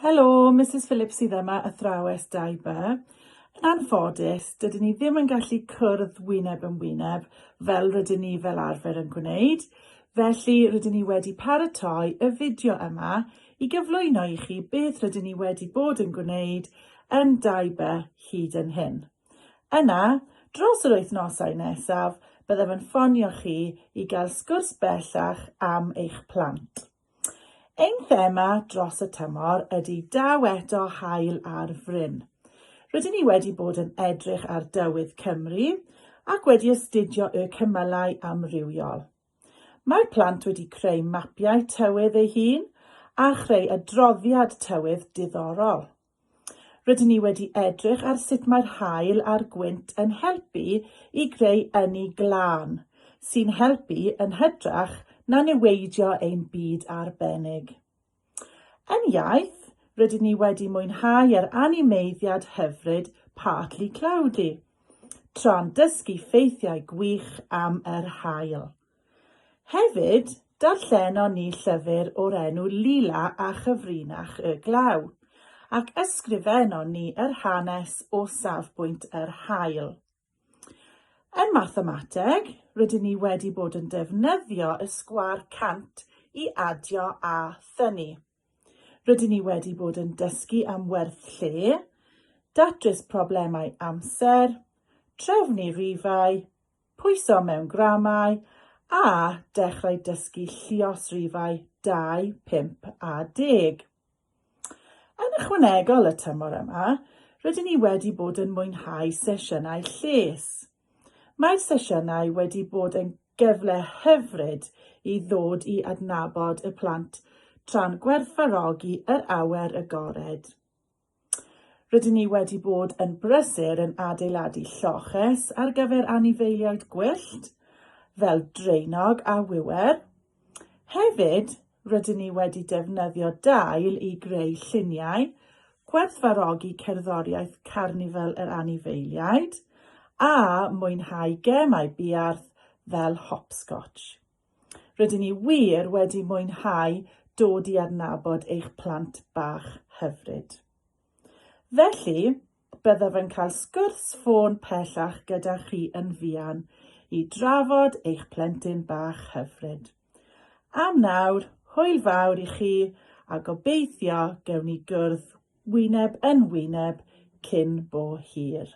Helo, Misus Phillips sydd yma, athrawes Daiba. Yn anffodus, dydyn ni ddim yn gallu cwrdd wyneb yn wyneb fel rydyn ni fel arfer yn gwneud, felly rydyn ni wedi paratoi y fideo yma i gyflwyno i chi beth rydyn ni wedi bod yn gwneud yn Daiba hyd yn hyn. Yna, dros yr wythnosau nesaf, byddaf yn ffonio chi i gael sgwrs bellach am eich plant. Ein thema dros y tymor ydy Daw Eto Haul ar Fryn. Rydyn ni wedi bod yn edrych ar dywydd Cymru ac wedi astudio y cymylau amrywiol. Mae plant wedi creu mapiau tywydd eu hun a chreu adroddiad tywydd diddorol. Rydyn ni wedi edrych ar sut mae'r haul a'r gwynt yn helpu i greu ynni glân, sy'n helpu yn hytrach na niweidio ein byd arbennig. Yn iaith, rydyn ni wedi mwynhau yr animeiddiad hyfryd Partly Cloudy, tra'n dysgu ffeithiau gwych am yr haul. Hefyd, darllenon ni llyfr o'r enw Lila a Chyfrinach y Glaw, ac ysgrifenon ni yr hanes o safbwynt yr haul. Yn mathemateg, rydyn ni wedi bod yn defnyddio y sgwâr cant i adio a thynnu. Rydyn ni wedi bod yn dysgu am werth lle, datrys problemau amser, trefnu rifau, pwyso mewn gramau a dechrau dysgu lluosrifau 2, 5 a 10. Yn ychwanegol y tymor yma, rydyn ni wedi bod yn mwynhau sesiynau lles. Mae'r sesiynau wedi bod yn gyfle hyfryd i ddod i adnabod y plant tra'n gwerthfawrogi yr awyr agored. Rydyn ni wedi bod yn brysur yn adeiladu lloches ar gyfer anifeiliaid gwyllt, fel draenog a wiwer, Hefyd, rydyn ni wedi defnyddio dail i greu lluniau, gwerthfawrogi cerddoriaeth Carnifal yr Anifeiliaid, a mwynhau gemau buarth fel hopscotch. Rydyn ni wir wedi mwynhau dod i adnabod eich plant bach hyfryd. Felly, Byddaf yn cael sgwrs ffôn pellach gyda chi yn fuan i drafod eich plentyn bach hyfryd. Am nawr, hwyl fawr i chi a gobeithio gewn ni gwrdd wyneb yn wyneb cyn bo hir.